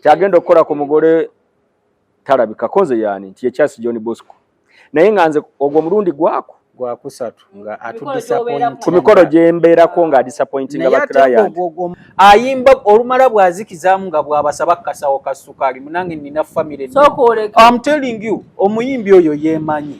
kyagenda okukola ku mugole talabika konze yani nti ekyasi John Bosco naye nga nze ogwo mulundi gwako gwakusatu nga atudisappoint ku mikolo gye mbeerako nga adisappointinga ba client ayimba olumala bwazikizaamu nga bwabasaba kasawo ka ssukaali munange nina famire I'm telling you omuyimbi oyo yemanyi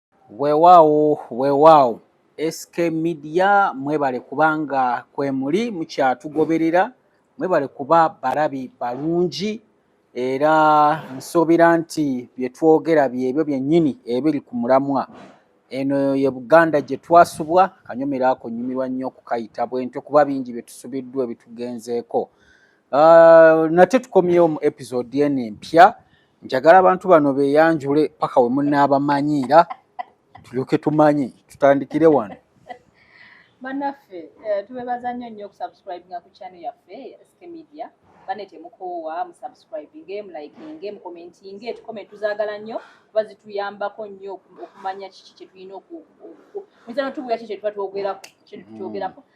Weewaawo weewaawo SK Media mwebale kubanga kwemuli mukyatugoberera mwebale kuba balabi balungi era nsuubira nti bye twogera byebyo byennyini ebiri ku mulamwa eno ye buganda gye twasubwa kanyumira ako nyumirwa nnyo okukayita bwentyo kuba bingi bye tusubiddwa ebitugenzeeko ah, nate tukomyewo mu episode eno empya njagala abantu bano beyanjule paka we munaabamanyiira tulyoke tumanyi tutandikire wano banaffe eh, tubebaza nnyo nnyo okusubscribinga ku channel yaffe sk media bane temukoowa musubscribinge mulikinge mukomentinge tukoment tuzaagala nnyo kuba zituyambako nnyo okumanya kiki kyetulina muyinza notubuya ki kyetuba twogerako kyetuba twogerako mm.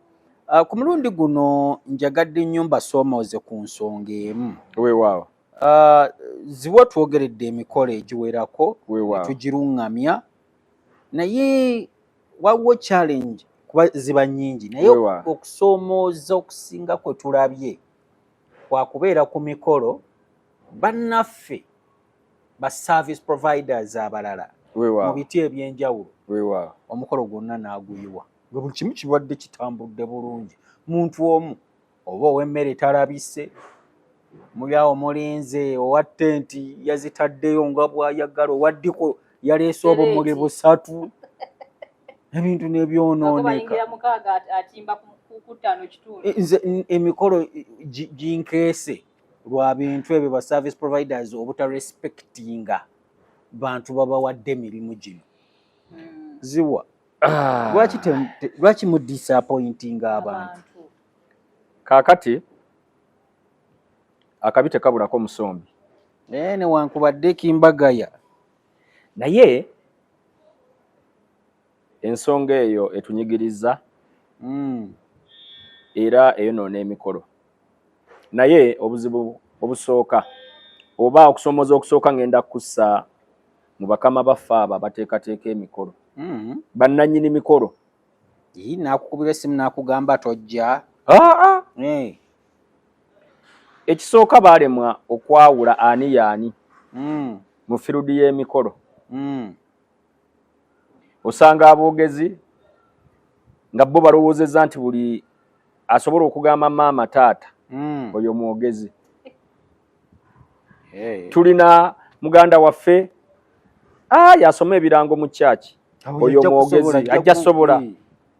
Ah, ku mulundi guno njagadde nnyo mbasoomooze ku nsonga emu weewaawo ah, ziwa twogeredde emikolo egiwerako tugiruŋŋamya naye waliwo challenge kuba ziba nnyingi naye okusoomooza okusinga kwe tulabye kwakubeera ku mikolo bannaffe ba service providers abalala mu biti ebyenjawulo omukolo gwonna n'aguyiwa nga buli kimu kibadde kitambudde bulungi muntu omu oba ow'emmere talabise mulyawo mulinze owa tenti yazitaddeyo nga bwayagala owaddiko yaleese obumuli busatu ebintu nebyononeka eh, nze emikolo ginkeese lwa bintu ebyo ba service providers obutarespectinga bantu babawadde emirimu gino hmm. ziwa ah. lwaki mu disappointinga abantu kakati akabi tekabulako musombi naye newankubadde kimbagaya naye ensonga eyo etunyigiriza mm. era eyonoona emikolo naye obuzibu obusooka oba okusoomoza okusooka ngenda kussa mu bakama baffe abo abateekateeka emikolo mm. bannanyini mikolo yii nakukubira esimu nakugamba tojja ah, ah. hey. ekisooka baalemwa okwawula ani yaani mm. mu firuudi y'emikolo mm. osanga aboogezi nga bo balowoozezza nti buli asobola okugamba maama taata hmm. oyo mwogezi tulina muganda waffe ah, yasoma ebirango mu kyaki oyo mwogezi ajja sobola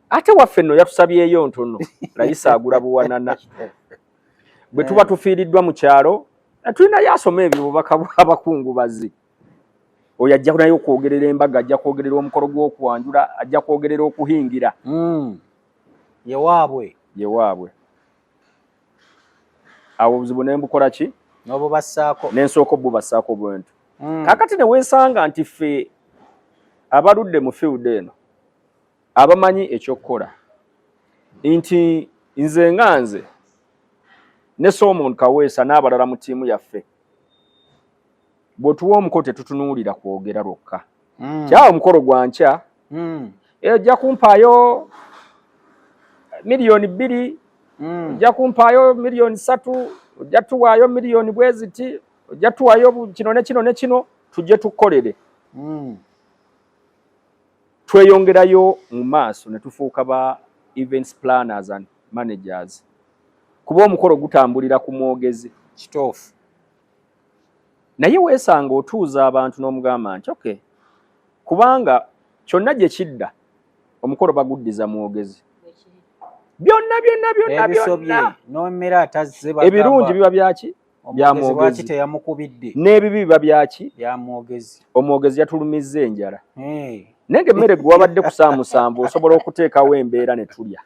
ate waffe nno yatusabyeyo ntono layisa agula buwanana bwe tuba eh. tufiiriddwa mu kyalo tulinayo asoma ebyo bubaka bw'abakungubazi oyo ajja naye okwogerera embaga ajja kwogerera omukolo gw'okwanjula ajja kwogerera okuhingira hmm. yewaabwe yewaabwe awo obuzibu ne mbukola ki nobubassaako ne nsooka obubassaako bwentu hmm. kakati ne weesanga nti ffe abaludde mu field eno abamanyi ekyokukola nti nze nga nze ne Solomon Kaweesa n'abalala mu ttiimu yaffe bwotuwa omukolo tetutunuulira kwogera lwokka mm. kyawo omukolo gwa nkya mm. ejja kumpaayo miliyoni bbiri mm. ojja kumpaayo miliyoni satu ojja tuwaayo miliyoni bweziti ojja tuwaayo kino ne kino ne kino tujje tukolere mm. tweyongerayo mu maaso ne tufuuka ba events planners and managers kuba omukolo gutambulira ku mwogezi kitoofu naye weesanga otuuza abantu n'omugamba nti oke kubanga kyonna gye kidda omukolo baguddiza mwogezi byonna byonna byonna byonna n'omera atazze ebirungi biba byaki byamwogezi teyamukubidde n'ebibi biba byaki byamwogezi omwogezi yatulumizza enjala naye ng'emmere gwe wabadde kusaamusanvu osobola okuteekawo embeera ne tulya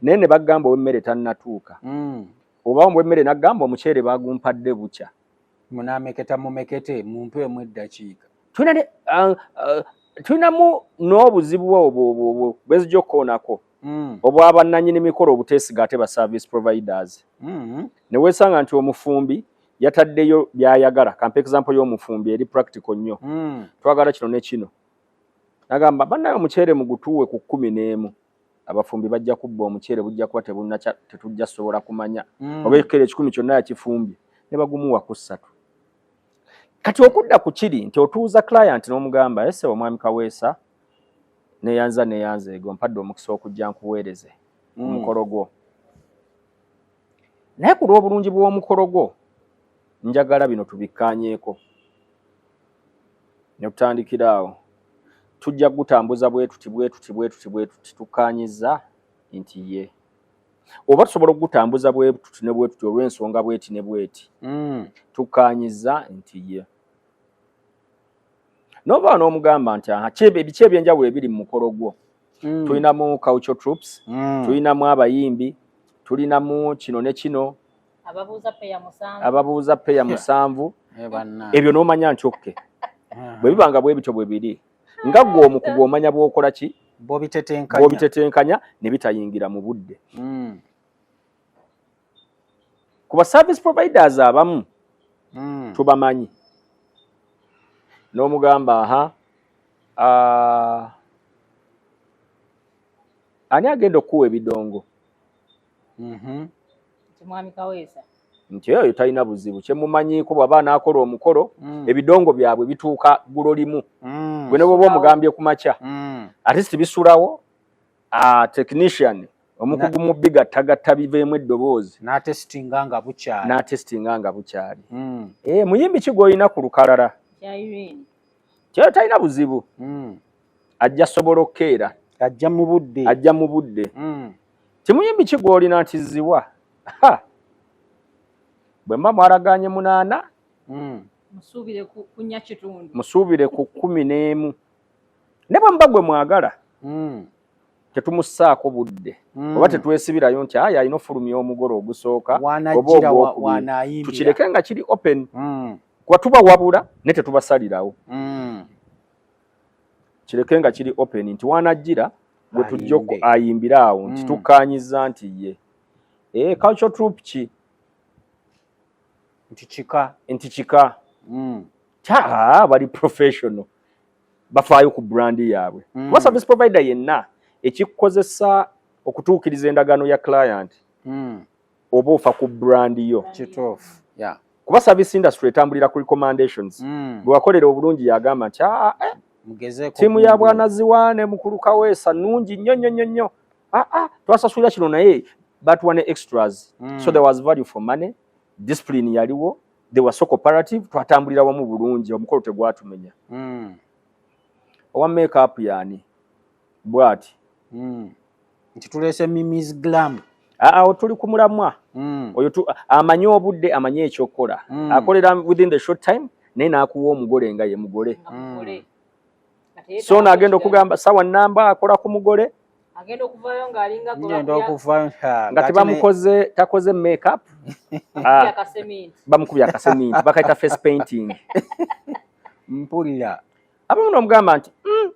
naye ne bagamba ow'emmere tannatuuka hmm. oba ombwa emmere n'agamba omuceere baagumpadde bukya munaameketa mumekete mumpe emu eddakiika tulinamu n'obuzibu obwo bwezija okukoonako hmm. obwabannanyini mikolo obuteesiga ate ba service providers hmm. ne weesanga nti omufumbi yataddeyo by'ayagala kampa example y'omufumbi eri practical nnyo hmm. twagala kino ne kino nagamba bannaye omuceere mugutuuwe ku kkumi n'emu abafumbi bajja kubba omuceere bujja kuba tebunakya tetujja sobola kumanya mm. oba ekikere ekikumi kyonna yakifumbye ne bagumuwa ku ssatu kati okudda ku kiri nti otuuza client n'omugamba ese omwami kaweesa neyanza neyanza ego mpadde omukisa okujja nkuweereze mm. omukolo gwo naye ku lw'obulungi bw'omukolo gwo njagala bino tubikkaanyeeko ne tutandikira awo tujja kugutambuza bwe tuti bwe tuti bwe tuti bwe tuti tukkaanyizza nti ye oba tusobola okugutambuza bwe tuti ne bwe tuti olw'ensonga bweti ne bweti mm. tukkaanyizza nti ye nova n'omugamba nti aha biki ebyenjawulo ebiri mu mukolo gwo mm. tulinamu culture troops mm. tulinamu abayimbi tulinamu kino ne kino ababuuza peya musanvu ababuuza peya musanvu eh, ebyo n'omanya ncokke ah. bwe biba nga bwe bityo bwe biri nga gwe omukugu omanya bw'okola ki bw'obitetenkanya ne bitayingira mu budde hmm. ku ba service providers abamu hmm. tubamanyi n'omugamba aha ah, ani agenda okukuwa ebidongo mhm. nti mwami kaweesa nti eyo talina buzibu kyemumanyiiko bwaba anaakola omukolo mm. ebidongo byabwe bituuka gulo limu mm. gwe ne bwoba omugambye ku makya mm. ate si bisulawo ah, technician omukugu mu bigattagatta biveemu eddoboozi n'atesitinga nga bukyali n'atesitinga nga bukyali hmm. ee eh, muyimbi ki gw'olina ku lukalala kyayo talina buzibu hmm. ajja sobola okukeera ajja mu budde ajja mu budde hmm. Timuyimbi ki gw'olina nti ziwa? Bwe mba mwaragaanye munaana hmm. musuubire ku kkumi n'emu ne bwe muba gwe mwagala hmm. tetumussaako budde hmm. oba tetwesibirayo nti ayi alina ofulumya omugole ogusooka tukireke nga kiri open kuba tuba wabula ne tetubasalirawo kireke nga kiri open nti wanajjira gwe tujja ayimbire awo nti mm. tukkaanyiza nti ye ee eh, culture troop ki nti kika nti kika mm. taa bali professional bafaayo ku brandi yaabwe mm. kuba service provider yenna ekikukozesa okutuukiriza endagaano ya client oba ofa ku brand yo kituufu yeah. kuba service industry etambulira ku recommendations mm. bwewakolera obulungi yagamba nti ah, ah, eh, tiimu ya bwanaziwa ne mukulu kaweesa nungi nnyo nnyo nnyo nnyo ah, ah, twasasulira kino naye batuwa ne extras mm. so there was value for money discipline yaliwo they were so cooperative twatambulira wamu bulungi omukolo tegwatumenya mm. owa makeup yani bwati mm. nti tulese mimis glam awo tuli ku mulamwa mm. oyo amanyi obudde amanyi ekyokukola mm. akolera within the short time naye n'akuwa omugole nga ye mugole mm. so ono agenda okugamba sawa namba akola ku mugole nga tebamukoze takoze makeup ah. bamukubya akaseminti bakaita face painting mpulira abamu nomugamba nti mm,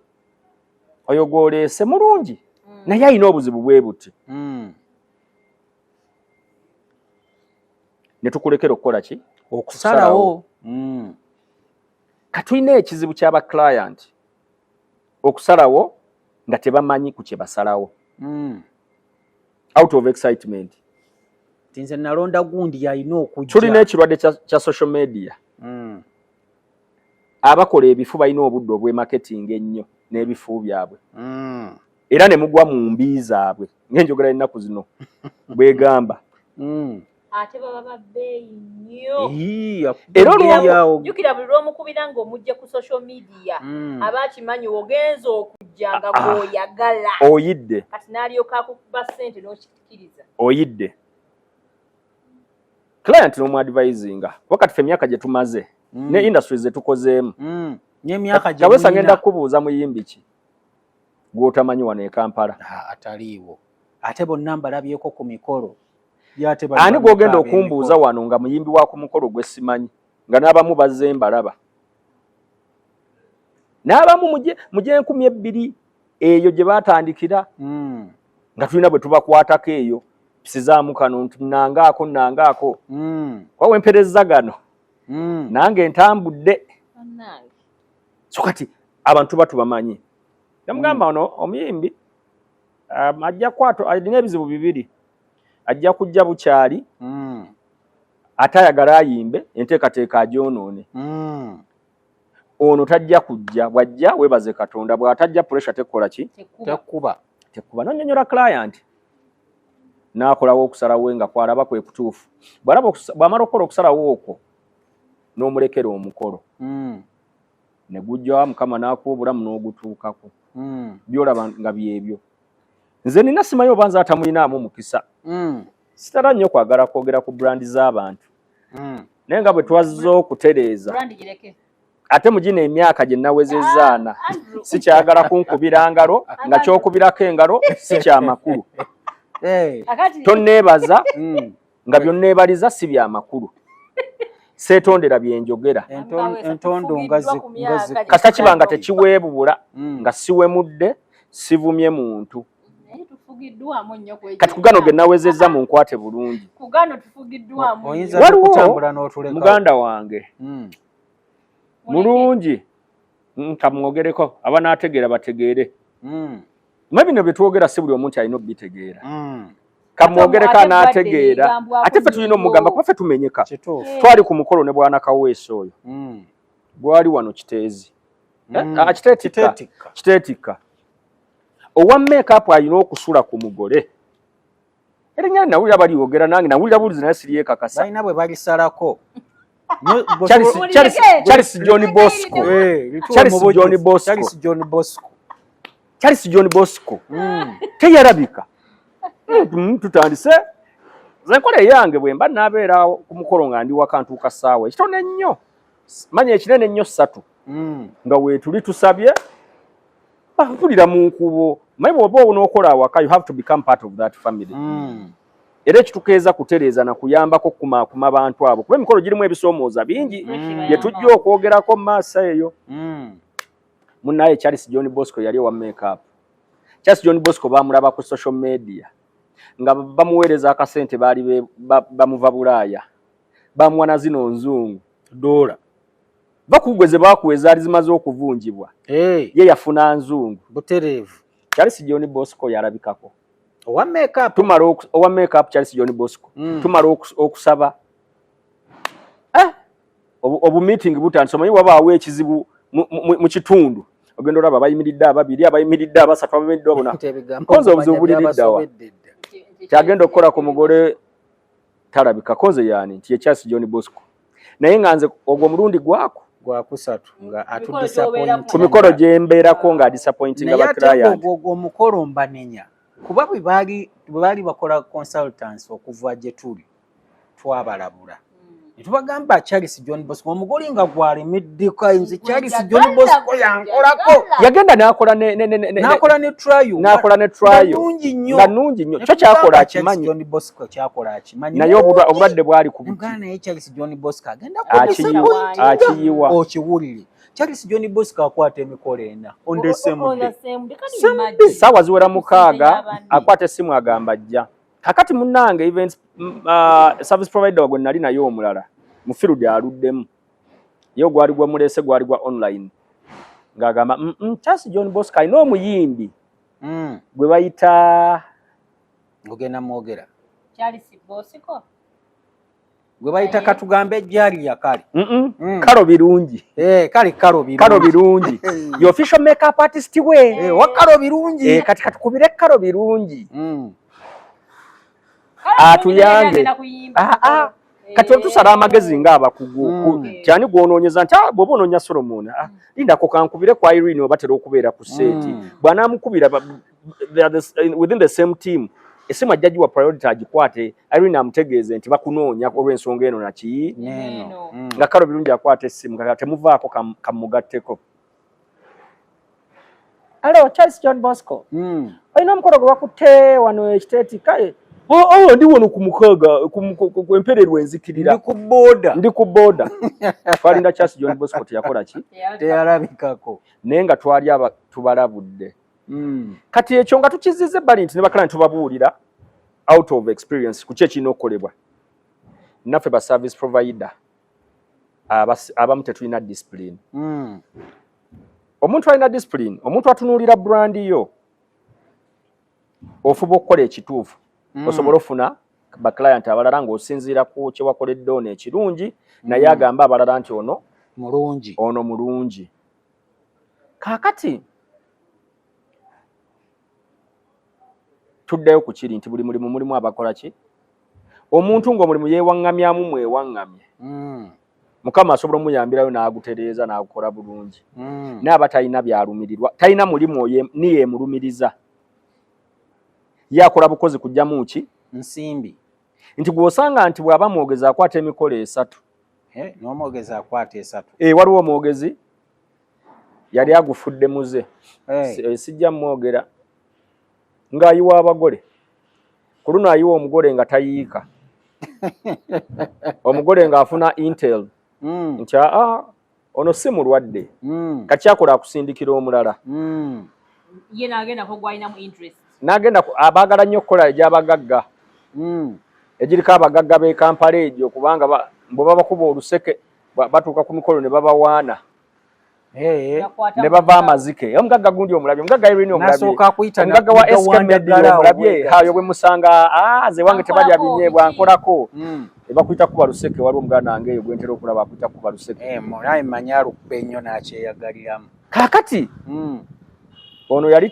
oyo gwoleese mulungi mm. naye alina obuzibu bwe buti mm. ne tukulekera okukola ki okusalawo mm. katulina ekizibu kyaba client okusalawo nga tebamanyi ku kye basalawo mm. out of excitement tinze nalonda gundi yalina okujja tulina ekirwadde kya social media mm. abakola ebifu balina obudde obwemaketinga ennyo n'ebifu byabwe mm. era ne mugwa mu mbi zaabwe ng'enjogera y'ennaku zino bwegamba mm. ate baba babbeeyi nnyo era olwojukira buli lwomukubira ng'omujja ku social media mm. aba akimanyi ogenza okujja nga ah, ah. gwoyagala oyidde kati n'alyoka akukuba ssente n'okikkiriza oyidde client no advising wakati fe myaka je tumaze mm. ne industries ze tukozemu mm. ne myaka je kawesa ngenda kubuza muyimbi ki gwotamanyi wano e Kampala ah, ataliwo ate bo namba labyeko ku mikolo yate ba ani gwogenda okumbuza wano nga muyimbi wa ku mukolo gwe simanyi nga nabamu bazze mbalaba nabamu muje muje 2000 eyo je batandikira mm. nga tulina bwe tubakwatako eyo sizaamu kano nti nangaako nangaako mm. kuba wempereza gano mm. nange ntambudde so kati abantu ba tubamanyi namugamba mm. ono omuyimbi um, ajja kwato alina ebizibu bibiri ajja kujja bukyali mm. ate ayagala ayimbe enteekateeka agyonoone mm. ono tajja kujja bwajja webaze katonda bwatajja pressure tekola ki tekuba tekuba nonyonyola client nakolawo okusalawo nga kwalaba kwe kutuufu bwalaba bwamala okukola okusalawo okwo nomulekera omukolo mm. negujja mukama nakuwa obulamu nogutuukako mm. byolaba nga byebyo nze nina simayo obanza atamulinamu mukisa mm. sitara nnyo kwagala kwogera ku brandi z'abantu hmm. naye nga bwe twazze okutereeza ate mu gino emyaka gye nawezezaana ah, sikyagala kunkubira ngalo nga kyokubirako engalo si kyamakulu tonneebaza hmm. nga byonneebaliza si byamakulu seetondera bye njogera entondo nga kata kiba nga tekiweebubula hmm. nga siwemudde sivumye muntu kati kugano ge nawezezza mu nkwate bulungi waliwo muganda wange hmm. mulungi nkamwogereko hmm, abanaategeera bategeere hmm. mwe bino bye twogera si buli omu nti alina obitegeera kamwogereko anaategeera ate ffe tulina omugamba kuba ffe tumenyeka twali ku mukolo ne bwanakaweesa oyo gwali wano kiteezi eh, ah, kiteetikka owa makeup alina okusula ku mugole erinya nawulira bali yogera nange nawulira bulizi naye siri yekakasa balina bwe balisalako charles john bosco eh, charles john bosco charles john bosco charles john bosco hmm. teyarabika hmm, hmm, tutandise zenkola eyange bwemba nabeera ku mukolo nga ndi wakantuuka saawa ekitone nnyo manya ekinene nnyo satu mm. nga wetuli tusabye batulira mu nkubo maye bwoba onokola awaka you have to become part of that family mm. era ekitukeeza kutereeza na kuyambako kumaakuma bantu abo kuba emikolo girimu ebisoomooza bingi mm. bye tujja okwogerako maaso eyo mm. munaye charles john bosco yali owa makeup charles john bosco bamulaba ku social media nga bamuweereza akasente baali bamuva bulaaya bamuwa na zino nzungu dola bakugwe ze bakuwa ezaali zimaze okuvunjibwa hey. ye yafuna nzungu butereevu charles john bosco yalabikako owa makeup tumala owa makeup charles john bosco mm. tumala okusaba eh obu meeting butandise omanyi wabaawo ekizibu mu kitundu ogenda olaba abayimiridde ababiri abayimiridde abasatu ababedde abona konze obuzibu buliriddawa kyagenda okukola ku mugole talabika konze yani nti ye charles john bosco naye nga nze ogwo mulundi gwaku gwakusatu nga ku mikolo gyembeerako nga disappointinga baclientogwo omukolo mbanenya kuba bwe baali bakola consultance okuva gye tuli twabalabula netubagamba charles john bosco omugoli nga gwalimiddika nze charles john bosco yankolako yagenda nakola nakola ne trialungi nyo nga nungi nyo kyo kyakola akimanyi naye obulwadde bwali ku akiyiwa okiwulire charles john bosco akwata emikolo ena saawa ziwera mukaaga akwata essimu agamba jja kakati munange events mm, uh, service provider wagwe nali naye omulala mufiru dy aluddemu ye ogwali gwa mulese gwali gwa online ng'agamba mm, mm, charles john bosco alina omuyimbi mm. gwe bayita ogenda mwogera kyali sibosiko gwe bayita katugambe ejjali yakale mm. kalo birungi eh, kale kalo birungi yo official makeup artist we eh, wa kalo birungi eh, kati katukubire kalo birungi mm. atuyange ah, ah. kati otusala amagezi nga abakugu mm. kyani gwonoonyeza nti ah, bwoba onoonya solomoni lindako kankubire ku irene obatera okubeera ku seeti bwanamukubira they are the, uh, within the same team esimu ajja giwa priority agikwate irene amutegeeze nti bakunoonya olw'ensonga eno naki mm. nga kalo birungi akwata essimu kaka temuvaako kamugatteko alo charles john bosco mm. olina omukolo gwe bakutte wano ekiteeti kale awo oh, oh, ndi wano ku mukaaga empererwa enzikirira ndi ku boda ndi ku boda twalinda charles john bosco teyakola ki teyalabikako naye nga twali tubalabudde mm. kati ekyo nga tukizize bali nti nebakala nti tubabuulira out of experience kuki ekirina okukolebwa naffe ba service provider abamu tetulina discipline mm. omuntu alina discipline omuntu atunuulira brand yo ofuba okukola ekituufu mm. osobola ofuna baclient abalala ngaosinziira ku kyewakoledde ono ekirungi mm. naye agamba abalala nti ono mulungi ono mulungi kaakati tuddayo ku kiri nti buli mulimu mulimu abakola ki omuntu ng'omulimu yeewaŋŋamyamu mwewaŋŋamye hmm. mukama asobola omuyambirayo n'agutereeza n'agukola bulungi hmm. naye aba talina byalumirirwa talina mulimu oyo ni yeemulumiriza ye akola bukozi kujjamu ki nsimbi nti gw'osanga nti bw'aba mwogezi akwata emikolo esatu eh, n'omwogezi akwata esatu eh, waliwo omwogezi yali agufudde muze eh. sijja mwogera ng'ayiwa abagole ku luno ayiwa omugole nga tayiika omugole ng'afuna intel hmm. nti aa ah, ono si mulwadde mm. kakyakola akusindikira omulala mm. ye nagenda kogwalinamu interest nagenda abaagala nnyo okukola egyabagagga mm. egiriko abagagga b'e kampala egyo kubanga bwe babakuba oluseke batuuka ku mikolo ne babawaana ne bava amazike omugagga gundi omulabye omugagga irini omulabyomugagga wa eskamediri omulabye hayo bwe musanga ah, ze wange tebalya binyeebwa nkolako mm. Ebakuyita kuba luseke waliwo muganda wange eyo gwentera okulaba akuyita kuba luseke. Eh, naye manya alukube nnyo n'akyeyagaliramu. Kaakati hmm. ono yali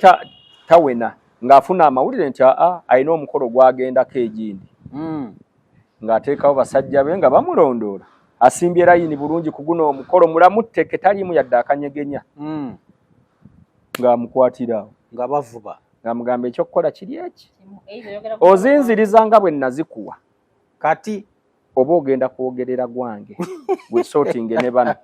tawena ng'afuna amawulire nti aa alina omukolo gwagendako egindi hmm. ng'ateekawo basajja be nga bamulondoola asimbye layini bulungi ku guno omukolo mulamu tteke taliimu yadde akanyegenya hmm. ng'amukwatirawo nga bavuba ng'amugamba ekyokukola kiri eki ozinziriza nga bwe nazikuwa kati oba ogenda kwogerera gwange wesotinge ne bano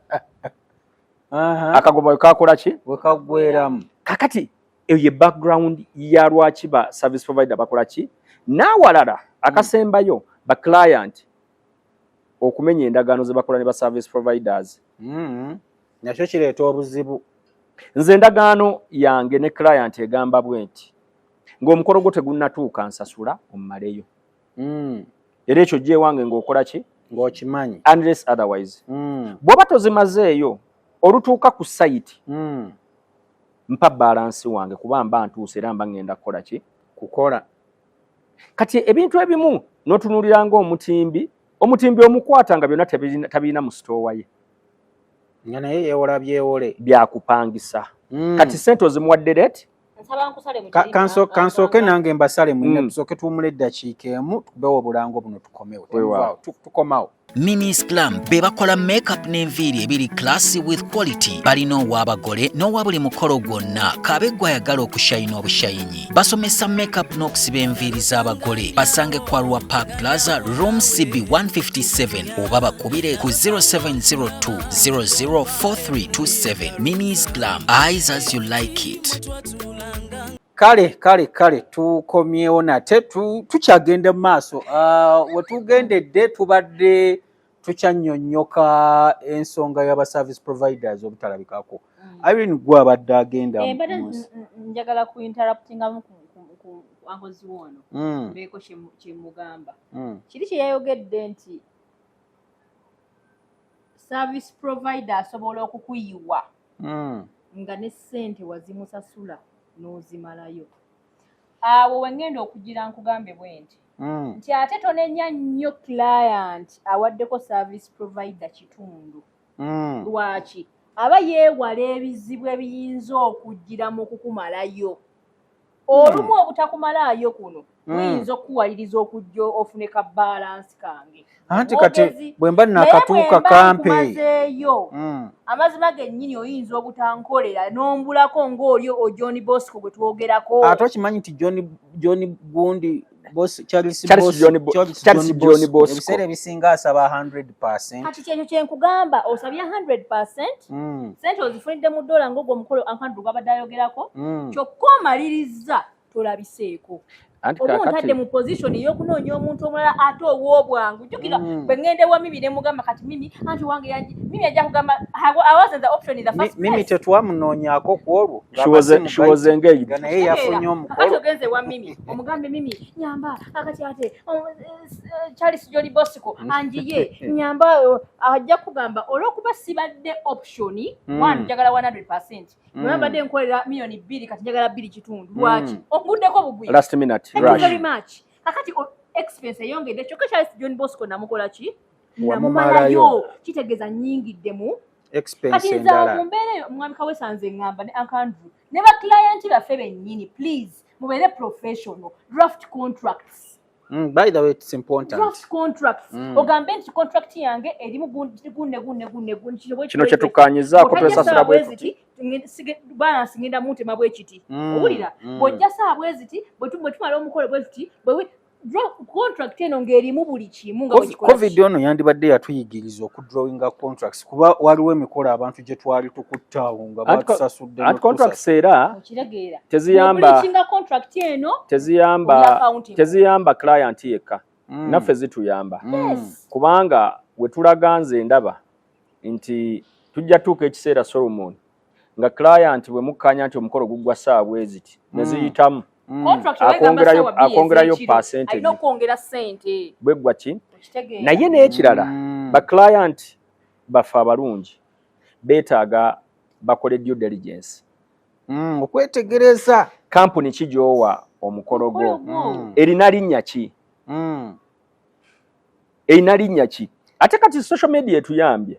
akagoba wekakola ki wekagweramu kakati eyo ye background ya lwaki ba service provider bakola ki n'awalala akasembayo mm. ba client okumenya endagaano ze bakola ne ba service providers mm. nakyo kireeta obuzibu nze endagaano yange ne client egamba bwenti ng'omukolo gwo tegunnatuuka nsasula omumaleyo mm. era ekyo jja ewange ng'okola ki ng'okimanyi unless otherwise mm. bw'oba tozimazeeyo olutuuka ku sayiti mm. mpa balansi wange kuba mba ntuuse era mba ŋŋenda kukola ki kukola kati ebintu ebimu n'otunuulira ng'omutimbi omutimbi omukwata nga byonna tabirina mu sitoowa ye nga naye yewola byewole byakupangisa mm. kati sente ozimuwadde reti kansooke nange mbasale mwine mm. tusooke tuwumula eddakiika emu tubewo obulango buno tukomewo tukomawo Minis Glam be bakola makeup n'enviiri ebiri classy with quality. Balina ow'abagole n'owa buli mukolo gwonna kaabe gw'ayagala okushayina obushayinyi. Basomesa makeup n'okusiba enviiri z'abagole. Basange ku Arua Park Plaza room CB 157 oba bakubire ku 0702 00 4327 mini islam eyes as you like it kale kale kale tukomyewo nate tukyagenda mu maaso ah, wetugendedde tubadde tukyanyonyoka ensonga yaba service providers obutalabikako mm. irene gwe abadde agenda eh, njagala ku interruptingamu ankozi woono mm. beeko kyemugamba mm. kiri kyeyayogedde nti service provider asobola okukuyiwa mm. nga ne ssente wazimusasula n'ozimalayo awo wengenda okugira nkugambe bwe nti mm. nti ate tonenya nnyo client awaddeko service provider kitundu mm. lwaki aba yeewala ebizibu ebiyinza okugira mu kukumalayo olumu hmm. obutakumalaayo kuno hmm. muyinza okukuwaliriza okujja ofune ka balansi kange anti kati bwe mba nakatuuka kampeeyo hmm. amazima gennyini oyinza obutankolera n'ombulako ng'oli ojohn bosco gwe twogerako ate okimanyi nti john gundi boss charles charles john boss charles john boss ebisere ebisinga asaba 100% kati kyenyo kyenkugamba osabya 100% mm. sente ozifunidde mu dola ngogo omukolo ankandru gwabadde ayogerako mm. kyokka omaliriza tolabiseeko obuntadde mu position eyokunoonya omuntu omulala ate owobwangu jukira mm. bwe ŋŋenda ewa mimi ne mugamba kati mimi anti wange yaji mimi ajja kugamba mimi tetwamunoonyako ku olwo naye yafunye omukolo ogenze ewa mimi omugambe mimi nyamba akati ate oh, eh, eh, charles joli bosco mm. anjiye nyamba oh, ajja kugamba olwokuba sibadde option mm. one njagala 100 percent mm. webabadde nkolera miyoni bbiri kati njagala bbiri kitundu lwaki onguddeko bugwi last minute thank you very much kakati oh, expense eyongedde kyokka charles joli bosco namukola ki namumalayo kitegeeza nyingiddemu kati nza mumbeera eyo omwami kawesanze ngamba ne ankandru ne ba client baffe bennyini please mubeere professional draft contracts Mm, by the way it's important draft contracts mm. ogambe nti contract yange erimu gunne gunne gunne gunne gunne kino kye tukanyiza ko twesa sura bwe kuti sige bana singenda mute mabwe kiti mm. owulira mm. bojja saa bwe ziti bwe tumwe tumala omukole bwe ziti bwe contract eno ng'erimu buli kimu nga covid ono yandibadde yatuyigiriza okudrawinga contracts kuba waliwo emikolo abantu gye twali tukutte awo nga batusasudde anti contracts era teziyamba contract eno teziyamba teziyamba client yekka mm. naffe zituyamba mm. kubanga wetulaga nze ndaba nti tujja tuuka ekiseera solomon nga client bwe mukkanya nti omukolo guggwa ssaawa bweziti ne mm. ziyitamu mm. akwongerayo percentage bweggwa ki naye n'ekirala mm. ba client baffe abalungi beetaaga bakole due diligence okwetegereza kampuni ki gy'owa omukolo gwo erina linnya ki erina linnya ki ate kati social media etuyambye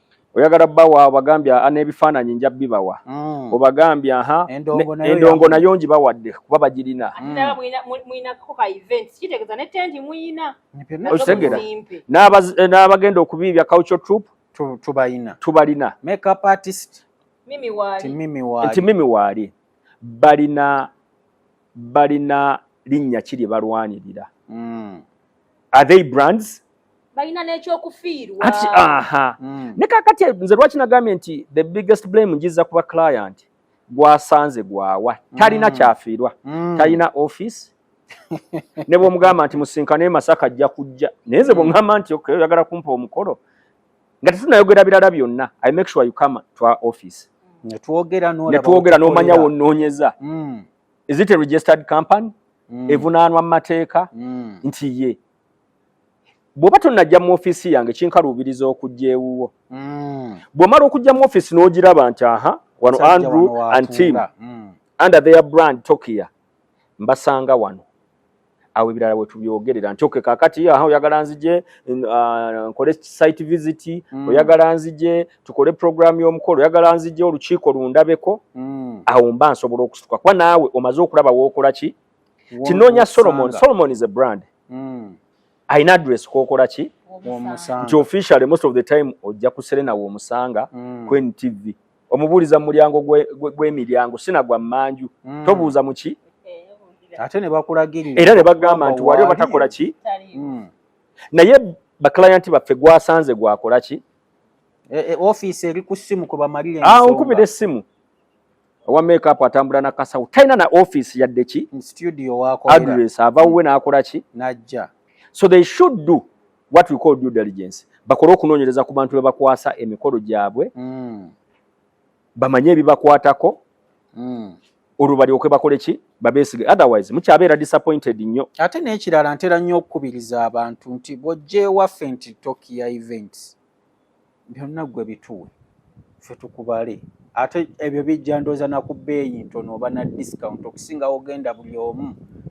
oyagala bawa obagambye ah, n'ebifaananyi nja bibawa mm. obagambye aha endongo nayo ngi bawadde kuba bagirina mm. okitegera eh, n'abagenda okubiibya culture troop tubalina tubalina makeup artist mimi wali mimi wali nti mimi wali balina balina linnya kiri balwanirira mm. are they brands balina nekyokufiirwa ati aha mm. ne kakati nze lwaki nagambye nti the biggest blame njiza kuba client gwasanze gwawa talina mm. kyafiirwa mm. talina office ne bwomugamba nti musinkane e masaka ajja kujja naye nze bwongamba mm. nti okay, oyagala kumpa omukolo nga tetunayogera birala byonna i make sure you come to our office netwogera nomanya wononyeza mm. is it a registered company mm. evunaanwa mu mateeka mm. nti ye bw'oba tonnajja mu ofiisi yange kinkaluubiriza okujja ewuwo mm. bw'omala okujja mu ofiisi n'ogiraba nti aha wano andrew and team mm. under their brand tokia mbasanga wano awo ebirala wetubyogerera nti oke kakati aha oyagala nzije uh, nkole site visit mm. oyagala nzije tukole program y'omukolo oyagala nzije olukiiko lundabeko mm. awo mba nsobola okusituka kuba naawe omaze okulaba wookola ki tinoonya solomon solomon is a brand mm. ayina address kookola ki nti officially most of the time ojja kuserenawo omusanga mm. kwen tv omubuuliza mu mulyango gw'emiryango sina gwa mmanju mm. tobuuza mu ki ate ne bakulagira era ne bagamba nti wali obatakola ki mm. naye bakilayanti baffe gwasanze gwakola ki e, e, ofiisi eri ku ssimu kwe bamalire ah, onkubira essimu owa makeup atambula na kasawo talina na ofiisi yadde ki address ava wuwe n'akola ki so they should do what we call due diligence bakole okunoonyereza ku bantu bebakwasa emikolo gyabwe mm. bamanye ebibakwatako mm. olwo balyoke bakole ki babesige otherwise mukyabeera disappointed nnyo ate n'ekirala ntera nnyo okukubiriza abantu nti bwojja ewaffe nti tokiya events byonna gwe bituwe fe tukubale ate ebyo bijja ndooza naku bbeeyi ntono oba na discount okusingawo ogenda buli omu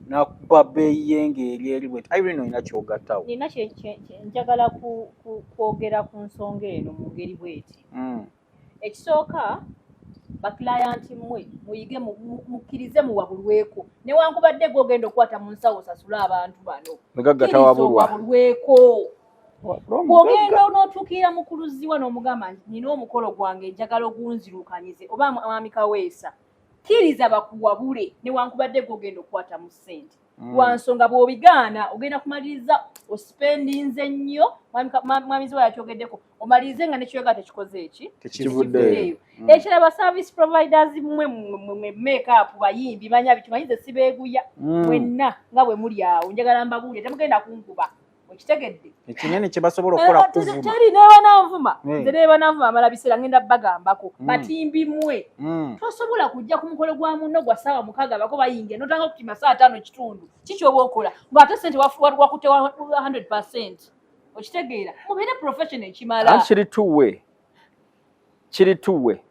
nakuba bbeeyi ye ngaeri eri bwet irene olina kyogattawo nina njagala kwogera ku nsonga eno mu ngeri bweti mm. ekisooka bakilayanti mmwe muyige mukkirize muwabulweko newankubadde gwe ogenda okukwata mu nsawo osasule abantu bano wabulweko ogenda onotuukirira mukuluziwa n'omugamba nti nina omukolo gwange njagala ogunzirukanyize oba mwami kaweesa kkiriza bakuwabule newankubadde gwe ogenda okukwata mu ssente mm. wansonga bwobigaana ogenda kumaliriza osipendinze nnyo mwamizi wa yakyogeddeko omalirize nga nekyoyoga tekikoze eki tekivuddeeyo mm. ekiraba service providers mwe mwe makeup bayimbi banya bitumanyize sibeeguya mm. mwenna nga bwe muli awo njagala mbabuulire temugenda kunkuba okitegedde ekinene kyebasobola okukola kukuvumteri nebananvuma eh. nze nebananvuma amala biseera ngenda bagambako mm. batimbi mwe mm. tosobola kujja ku mukolo gwa munno gwa saawa mukaaga bako bayingira notanga okutima saa taano kitundu kikyoba okola ngaate sente wakutte 100 okitegeera mubeere profession ekimala kiri tuwe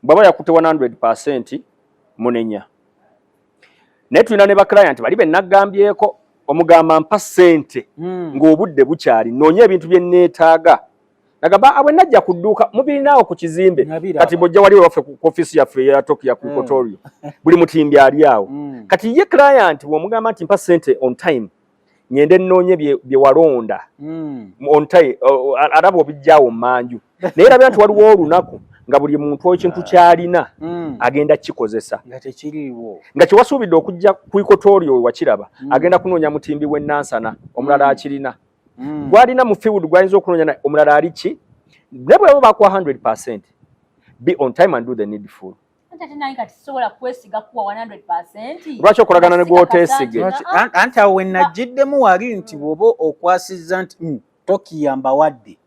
bwaba yakute 100% munenya naye tulina ne baclient bali benagambyeko omugamba mpa sente mm. ng'obudde bukyali noonya ebintu bye neetaaga nagamba abwe ah, najja ku dduuka mubirinaawo ku kizimbe kati bwojja wali wewaffe ku ofiisi yaffe eya tokiya ku kotorio mm. buli mutimbi ali awo mm. kati ye client womugamba nti mpa sente on time ngende nnoonye bye walonda hmm. ontai araba obijjawo manju naye labira nti waliwo olunaku nga buli muntu ekintu kyalina hmm. agenda kikozesa nga kyewasuubidde okujja ku ikotorio wewakiraba hmm. agenda kunoonya mutimbi w'ennansana omulala akirina gwalina mu fiwud gwayinza okunoonya omulala ali ki ne bwebo bakuwa 100 percent be on time and do the needful lwaki okolagana ne gwotesige anti awo wenajjiddemu wali nti bwoba okwasizza nti hmm, tokiyamba wadde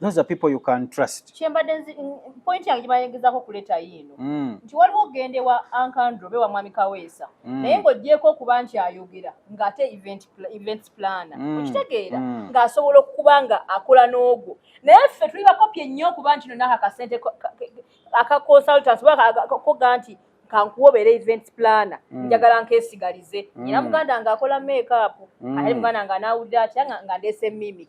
those are people you can trust kyembadde point yange gyebayengezako okuleeta yiino mm. nti waliwo okugenda ewa ankandro be wa mwami kaweesa mm. naye ng'ogyeko okuba nti ayogera ng'ate event planner mm. okitegeera ng'asobola okukuba nga akola n'ogwo naye ffe tuli bakopi ennyo okuba nti nonaka kasente aka consultants baka koga nti kankuwa obeera event planner mm. njagala nkesigalize mm. era muganda nga akola makeup mm. ate muganda nga nawulira atya nga ndeese mimi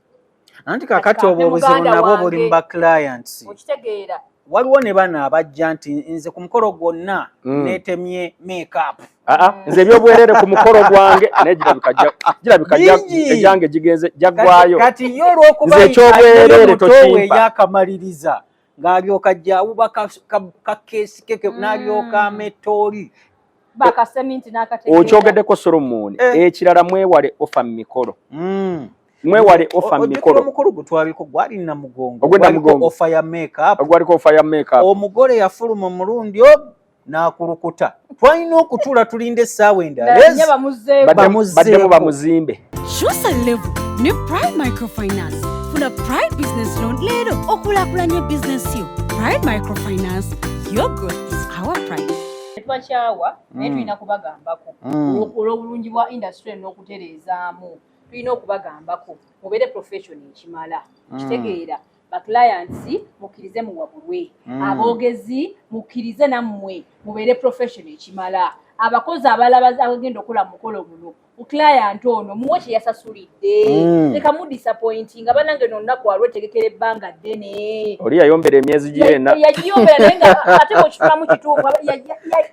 anti kakati obwo obuzibu nabwo buli mu ba clients okitegeera waliwo ne bano abajja nti nze ku mukolo gwonna mm. netemye makeup ah, ah, nze ebyobwerere ku mukolo gwange naye girabika egyange gigenze jaggwayo nze ekyobwerere tokimpa ng'alyoka jawuba kakeesi keke mm. n'alyoka ametooli okyogedeko solomooni eh. ekirala mwewale ofa mu mikolo mm. mwewale ofa mikolo omukulu gutwaliko gwali na mugongo ogwenda mugongo ofa ya makeup ogwaliko ofa ya makeup omugole yafuluma omulundi n'akulukuta twalina okutuula tulinda essaawa endalabamuzeemu bamuzimbe kyusa levu ne prime microfinance funa prime business loan leero okulakulanya bizinesi yo prime microfinance your growth is our prime twakyawa naye mm. tulina kubagambako mm. olw'obulungi bwa industry n'okutereezaamu tulina okubagambako mubeere profession ekimala mm. kitegeera baclients mukkirize muwabulwe mm. aboogezi mukkirize nammwe mubeere profession ekimala abakozi abalaba abagenda okola mukolo muno client ono muwe kyeyasasulidde mm. leka mu disappointing nga banange nonnaku waliwo etegekera ebbanga ddene oli yayombera emyezi gyena yagiyombera naye nga ate mukitulamu kituufu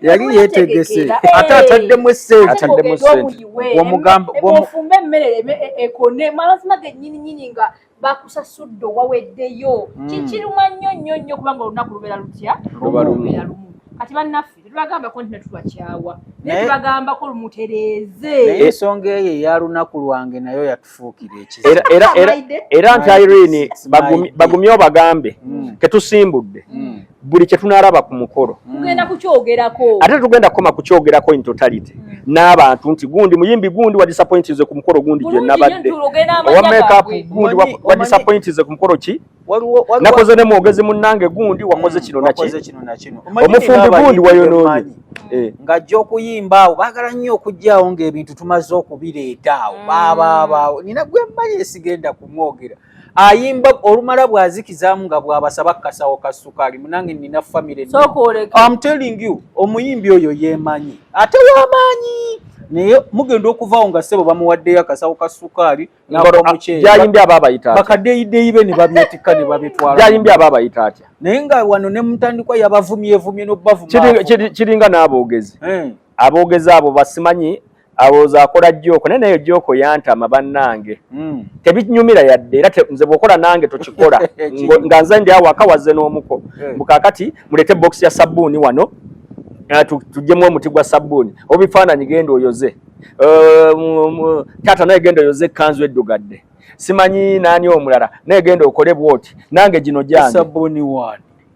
yali yetegese eh. ate ataddemu essenteomuyimufumbe emmere e, e, ekone mazima genyininyini nga bakusasudde owaweddeyo mm. kikiruma nnyo nnyo nnyo kubanga olunaku lubeera lutya lubeera lumu kati bannaffe tetubagambako nti netubakyawa naye tubagambako lumutereeze naye ensonga eyo eya lunaku lwange nayo yatufuukira ekiziera nti irene bagumye obagambe mm. ketusimbudde mm. buli kyetunalaba ku mukolo tugenda kukyogerako ate tugenda kukoma kukyogerako in totality mm. n'abantu nti gundi muyimbi gundi wa disappoint nze ku mukolo gundi gye nabadde owa makeup gundi wa disappoint nze ku mukolo ki nakoze ne mwogezi munnange gundi wakoze mm, kino naki omufumbi gundi wayonoonye eh. ng'ajja okuyimba awo baagala nnyo okugyawo ng'ebintu tumaze okubireeta awo mm. baabaawo nina gwe mmanyi esigenda kumwogera ayimba olumala bwazikizamu nga bwabasaba kasawo ka sukali munange nina family so I'm telling you omuyimbi oyo yemanyi ate wamanyi naye mugenda okuvaawo nga sebo bamuwaddeyo akasawo ka sukaali nagolomukyeyayimbi aba abayita bakadeyideyi be ne babyetikka ne babitwalajayimbi aba abayita atya naye nga wano ne mutandikwa yabavumyevumye nobavuma kiringa n'aboogezi eh. abogeza abo basimanyi awooza akola joko naye nayo joko yantama bannange mm. tebinyumira yadde era nze bwokola nange tokikola nga nze ndi awaka wazze n'omuko eh. mukakati mulete bokisi ya sabbuuni wano eh, tujjemu omuti gwa sabbuuni obifaananyi genda oyoze eh, taata naye genda oyoze ekkanzu eddugadde simanyi naani omulala naye genda okole bwoti nange gino gyange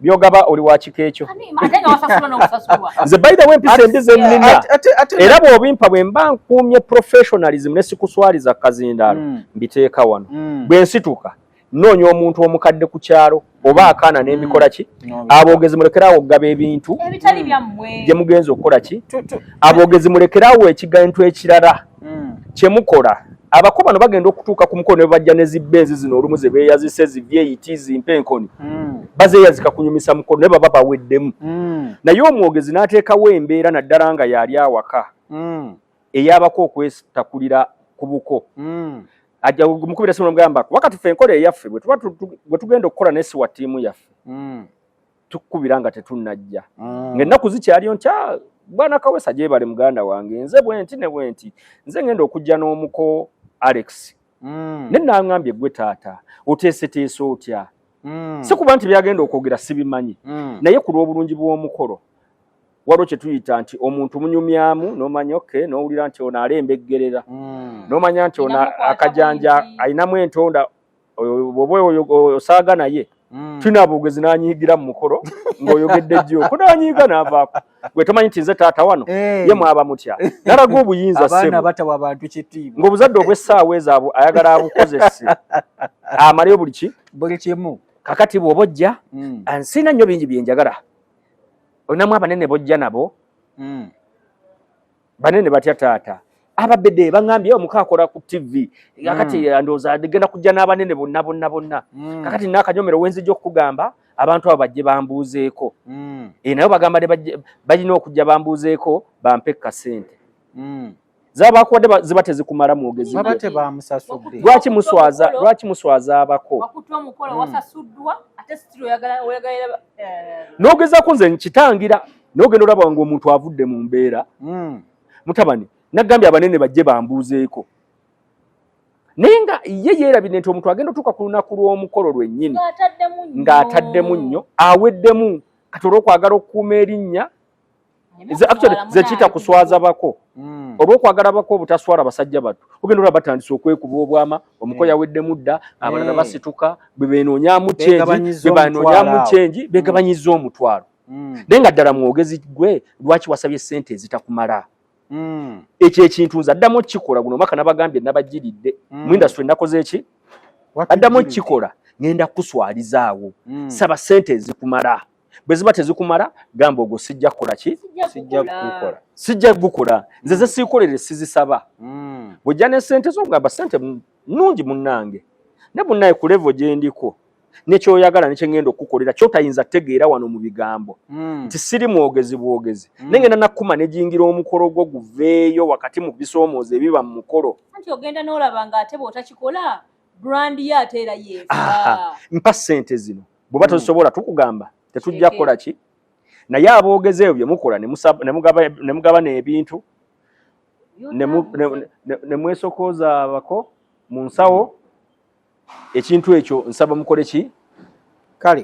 byogaba oli wakika ekyo nze by the way mpisa embi zennina era bw'obimpa bwe mba nkuumye professionalism ne sikuswaliza kazindaalo hmm. mbiteeka wano hmm. bwe nsituka nnoonya omuntu omukadde ku kyalo oba akaana hmm. n'emikola ki aboogezi mulekeraawo okugaba ebintu gye mugenza okukola ki aboogezi mulekeraawo ekigantu ekirala mm. kyemukola abako bano bagenda okutuuka ku mukono nebajja ne zibbenzi zino olumu zebeyazise zivyeyiti zimpe enkoni mm. bazeyazika kunyumisa mukono ne baba baweddemu mm. naye omwogezi n'ateekawo embeera naddala nga yali awaka mm. eyabako okwetakulira ku buko mm. ajja mukubira simu nomugambako wakati fe enkola eyaffe bwe tugenda okukola nesiwa ttiimu yaffe mm. tukukubira nga tetunnajja mm. ng'ennaku zikyaliyo nti ah, bwana kawesa gyebale muganda wange nze bwenti ne bwenti nze ngenda okujja n'omuko alex mm. ne nangambye gwe taata oteeseteese otya mm. si kuba nti byagenda okwogera sibimanyi mm. naye ku lw'obulungi bw'omukolo waliwo kye tuyita nti omuntu munyumyamu n'omanya oke n'owulira nti ono alembeggerera mm. n'omanya nti ono akajanja alinamu entonda oba oyo osaaga naye hmm. tulina bwogezi nanyiigira mu mukolo ng'oyogedde jjo ko nanyiiga naavaako gwe tomanyi nti nze taata wano eh. ye mwaba mutya nalaga obuyinza ng'obuzadde obw'essaawa ezaabwe ayagala abukozese amaleyo buli ki buli kimu kakati bwoba ojja hmm. nsiina nnyo bingi byenjagala olinamu abanene bojja nabo hmm. banene batya taata ababede bangambye omuka akola ku tv kakati mm. andooza genda kujja n'abanene bonna bonna bonna mm. kakati nakanyomero wenzija okukugamba abantu abo bajje bambuuzeeko mm. e, naye bagamba balina okujja bambuuzeeko bampe kasente mm. zabakuwadde ziba tezikumala mwogezi lwaki muswaza lwaki muswaza abako mm. eh. nogezaku nze nkitangira naye ogenda olaba nga omuntu avudde mu mbeera hmm. mutabani nagambye abanene bajje bambuuzeeko naye nga ye yeerabidde nti omuntu agenda otuuka ku lunaku lw'omukolo lwennyini ng'ataddemu nnyo aweddemu kati olwokwagala okukuuma erinnya zekiyita kuswaza bako hmm. olwokwagala bako obutaswala basajja batu ogenda olaba batandise okwekuba obwama omuko hmm. yaweddemu dda abalala basituka bwebenoonyamu kyenji bebanoonyamu kyenji begabanyiza omutwalo mm. naye nga ddala mwogezi gwe lwaki wasabye sente ezitakumala mm. ekyo ekintu nze addamu okukikola guno omwaka nabagambye nabajiridde mm. mu industry nakoze eki addamu okukikola ngenda kukuswalizaawo mm. saba sente ezikumala bwe ziba tezikumala gamba ogwo sijja kukola ki sijja kugukola nze ze siikolere sizisaba mm. bwojja ne sente zo ngamba sente nungi munnange ne bunnaye ku levo gyendiko ne kyoyagala ne kyengenda okukukolera kyotayinza tegeera wano mu bigambo hmm. nti siri mwogezi bwogezi hmm. ne ngenda nakuma ne jingira omukolo gwo guveeyo wakati mu bisomooza ebiba mu mukolo anti ogenda n'olaba nga ate bw'otakikola brand ye ate era yeefa mpa ssente zino bw'oba hmm. tozisobola tukugamba tetujja kukola ki naye aboogezi ebyo bye mukola ne mugaba n'ebintu ne mwesokooza abako mu nsawo ekintu ekyo nsaba mukole ki kale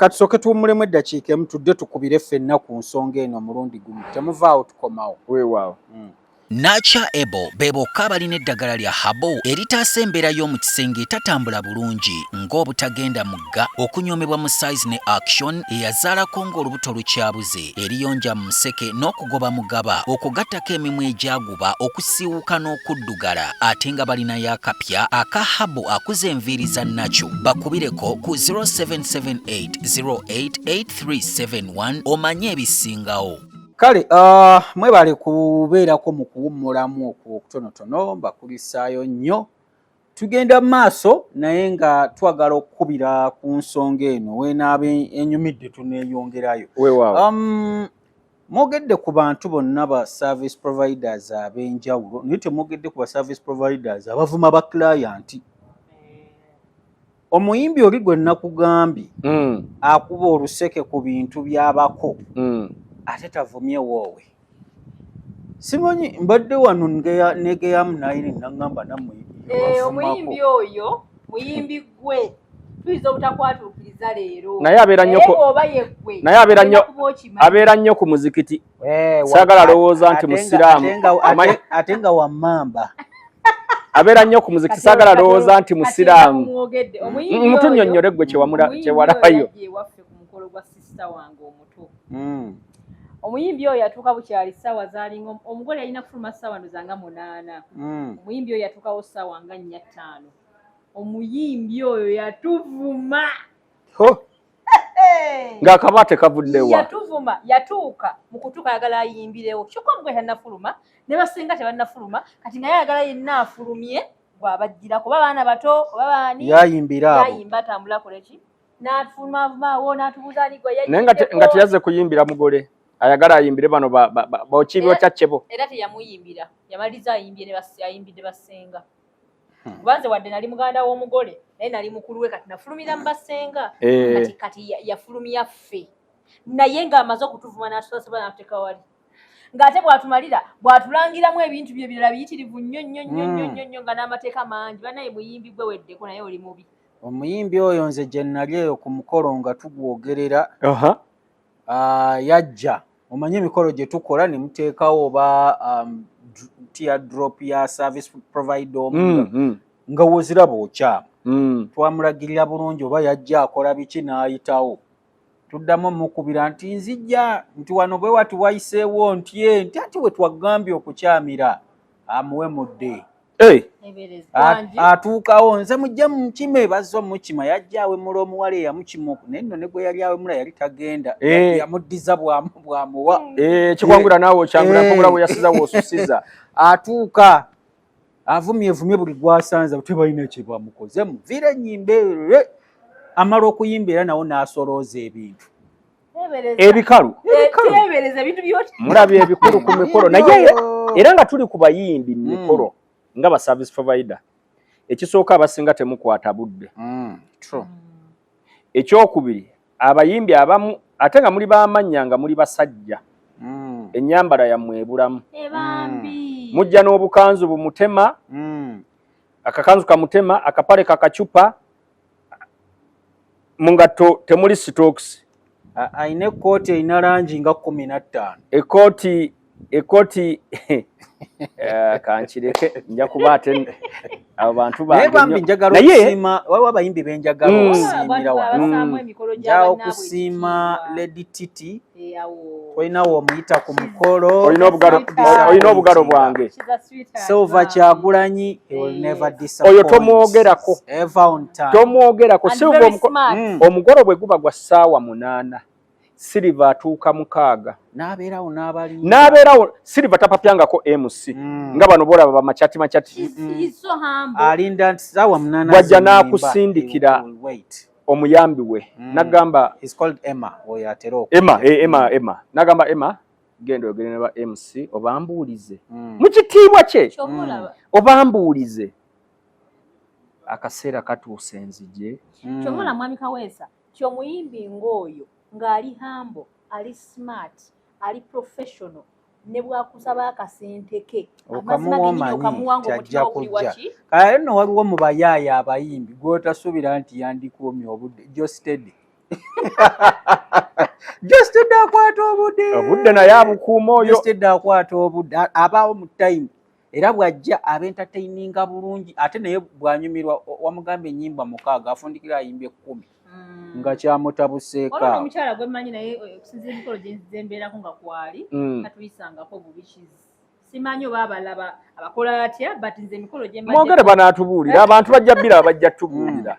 katusooke tuwummulemu eddakiika emu tudde tukubire ffenna ku nsonga eno omulundi gumu temuvaawo tukomawo weewaawo mm. Nacha Ebo be bokka abalina eddagala lya Habo eritaasa embeera y'omu kisenge etatambula bulungi ng'obutagenda mugga, okunyoomebwa mu size ne action eyazaalako ng'olubuto lukyabuze, eriyonja mu museke n'okugoba mugaba okwo gattako emimwa egyagwa bakuba okusiiwuka n'okuddugala ate nga balinayo akapya aka habu akuza enviiri za nakyo bakubireko ku 0778088371 omanye ebisingawo kale uh, mwebale kubeerako mu kuwummulamu okwo okutonotono mbakulisaayo nnyo Tugenda mu maaso naye nga twagala okukubira ku nsonga eno wenaaba enyumidde tuneeyongerayo. Um, mwogedde ku bantu bonna ba service providers ab'enjawulo naye temwogedde ku ba service providers abavuma ba client. omuyimbi oli gwe nakugambye mm. akuba oluseke ku bintu byabako mm. ate tavumye woowe simanyi mbadde wano negeyamu nayini nagamba namuyimbi eh, oyo muyimbi gwe tuyinza obutakwatuukiriza leero naye abeera nnyo abeera nnyo ku muzikiti Eh, sagala lowooza nti musiraamu ate nga wamamba abeera nnyo ku muziki sagala lowooza nti musiraamu mutunyonnyole gwe kyewalabayo hmm. omuyimbi oyo yatuuka bukyali saawa zalinga omugole yalina kufuluma saawa ndozanga munaana hmm. omuyimbi oyo yatuukawo saawa nga nnya ttaano omuyimbi oyo yatuvuma ng'akaba tekavuddewa yatuvuma yatuuka mu kutuuka ayagala ayimbirewo kyokka mugwe tannafuluma ne basinga tebannafuluma kati naye ayagala yenna afulumye gwabajjira kuba baana bato oba baani yayimbira abo yayimba atambula koleki n'afulumavumaawo n'atubuuza ani gwe naye nga teyazze kuyimbira mugole ayagala ayimbire bano bokiibyo kyakkebo era teyamuyimbira yamaliza ayimbye ayimbidde basinga hmm. kuba nze wadde nali muganda w'omugole naye nali mukulu we kati nafulumira mu basenga eh. kati kati yafulumya ffe naye ng'amaze okutuvuma n'atusasobola n'atuteeka wali ng'ate bw'atumalira bw'atulangiramu ebintu bye birala biyitirivu nnyo nnyo nnyo nnyo hmm. nnyo nnyo nga n'amateeka mangi banaye muyimbi gwe weddeko naye oli mubi omuyimbi oyo nze gye nali eyo ku mukolo nga tugwogerera uh, yajja omanyi emikolo gye tukola ne muteekawo oba um, tear drop ya service provider omu mm, mm. nga woziraba okyamu mm. twamulagirira bulungi oba yajja akola biki n'ayitawo tuddamu omukubira nti nzijja nti wano bwe wati wayiseewo ntye nti ati we twagambye okukyamira amuwe mudde atuukawo nze mujja mukima ebazza omukima yajja awemula omuwala eyamukima oku naye nno ne gwe yali awemula yali tagenda eh. yamuddiza bwamuwa eh, kikwangula naawe okyangula mpogula eh. weyasiza wosusiza atuuka avumye vumye buli gwasanza tebalina kyebamukozemu vira enyimba amala okuyimba era nawo n'asolooza ebintu ebikalu mulabye ebikulu ku mikolo naye era nga tuli ku bayimbi mu hmm. mikolo nga ba service provider ekisooka abasinga temukwata budde hmm. ekyokubiri abayimbi abamu ate nga muli bamannya nga muli basajja hmm. ennyambala yammwe ebulamu mujja n'obukanzu bumutema akakanzu kamutema akapale kakacupa mu ngatto temuli sitookisi alina ekkooti erina langi nga kumi na ttaano ekkooti ekkooti eh, kankireke nja kuba ate abo bantu banaye waliwo abayimbi benjagala mm. okusiimira wano nja okusiima lady titi olina womuyita ku mukolo olina obugalo bwange silver kyagulanyi oyo tomwogerako tomwogerako silver hmm. omugolo bwe guba gwa ssaawa munaana siliva atuuka mukaaga n'abeerawo siliva tapapyangako mc hmm. nga bano boolaba bamacati macati hmm, alinda nti ssaawa munaana wajja n'akusindikira omuyambi we mm. nagamba is called Emma oyo atera oku Emma eh, Emma mm. Emma nagamba Emma genda oyogere ne ba MC obambuulize mm. mu kitiibwa kye mm. obambuulize akaseera katuuse nzije mm. kyomola mwami kaweesa kyomuyimbi ng'oyo ng'ali hambo ali smart ali professional ne bwakusaba akasente ke kale no waliwo mu bayaaya abayimbi gwotasuubira nti yandikuumye obudde jostede jostede akwata obudde obudde naye abukuuma oyo jostede akwata obudde abaawo mu time era bw'ajja abentateyininga bulungi ate naye bw'anyumirwa wamugamba ennyimba mukaaga afundikira ayimba ekkumi mm. nga kyamutabuseeko omukyala gwe mmanyi naye eh, okusinzira emikolo gye mbeerako nga kwali mm. katuyisangako bubi kizi simanyi oba abalaba abakola atya but nze emikolo gye mwogere banaatubuulira abantu bajja bbira abajja tubuulira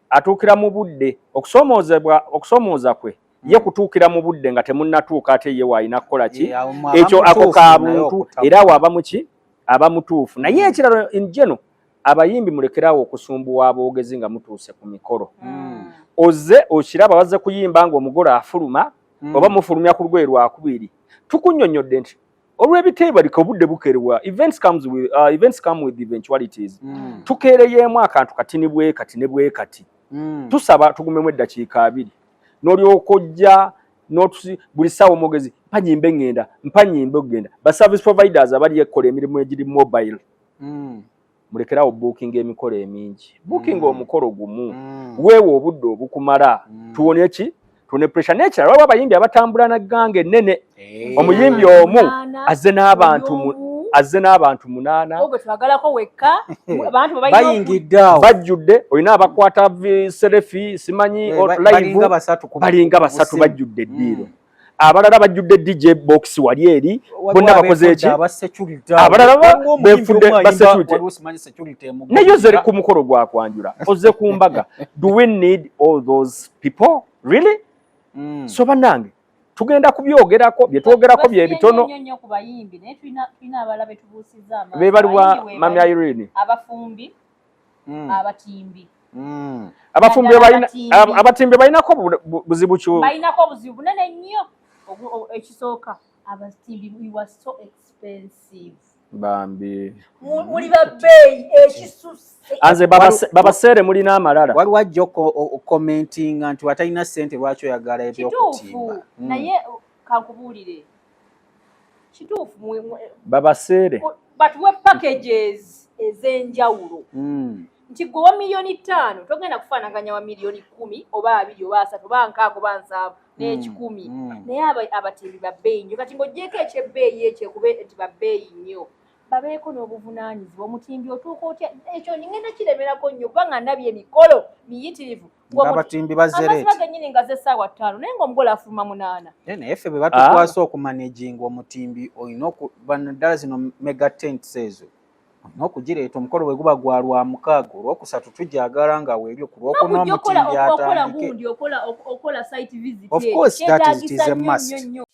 atuukira mu budde okusoomoozebwa okusoomooza kwe ye hmm. kutuukira mu budde nga temunnatuuka ate ye waalina kukola ki ekyo ako ka buntu era awo aba muki aba mutuufu naye hmm. ekiralo njeno abayimbi mulekeraawo okusumbuwa aboogezi nga mutuuse ku mikolo hmm. oze okiraba baze kuyimba nga omugole afuluma oba mufulumya ku lugwe lwakubiri tukunyonyodde nti olw'ebiteebalika obudde bukerewa events comes with, uh, events come with eventualities mm. tukeereyeemu akantu kati ne bwe kati ne bwe kati mm. tusaba tugumemu eddakiika abiri n'olyoka ojja notusi buli sawa omwogezi mpanyimbe ngenda mpanyimbe okugenda ba service providers abali ekola emirimu egiri mobile mm. mulekerawo buukinga emikolo emingi buukinga mm. omukolo gumu mm. weewa obudde obukumala mm. tuwone ki tune pressure nekirala waliwo abayimbi abatambula na gganga ennene hey. Eh. omuyimbi omu azze n'abantu azze n'abantu munaana bayingiddeawo bajjudde olina abakwata serefi simanyi eh, balinga basatu bajjudde eddiiro mm. abalala bajjudde DJ box wali eri bonna bakoze eki abalala befudde ba security naye oze ku mukolo gwa kwanjula oze ku mbaga do we need all those people really mm. so banange tugenda kubyogerako byetwogerako byebitono bebaliwa mami irene abafumbi mm. abatimbi mm. abafumbi abatimbi balinako buzibu ki balinako obuzibu bunene nnyo ekisooka abatimbi wa so expensive bambi muli babbeeyi ekisusa anze babaseere mulina amalala waliwo ajja okomentinga nti watalina sente lwaki oyagala ebyokutimba hmm. naye kankubuulire kituufu babaseere but we packages ez'enjawulo hmm. nti gwe wa miliyoni ttaano togenda kufaanaganya wa miliyoni kumi oba abiri oba asatu oba nkaaga oba nsaavu hmm. n'ekikumi hmm. naye abatimbi babbeeyi nnyo kati ng'ogyeko ekyebbeeyi ekyo ekube nti babbeeyi nnyo babeeko n'obuvunaanyizibwa omutimbi otuuka otya ekyo ngenda kiremerako nnyo kubanga ndabye emikolo miyitirivu abatimbi bazereeta genyini nga ze saawa ttaano naye nga omugole afuluma munaana naye naye ffe bwe batukwasa ah. okumanaginga omutimbi olina ddala zino mega tents ezo olina okugireeta omukolo bwe guba gwa lwa mukaaga olwokusatu tujagala nga weebyo ku lwokuna omutimbiokola site visit ekitegisa nnyo nnyo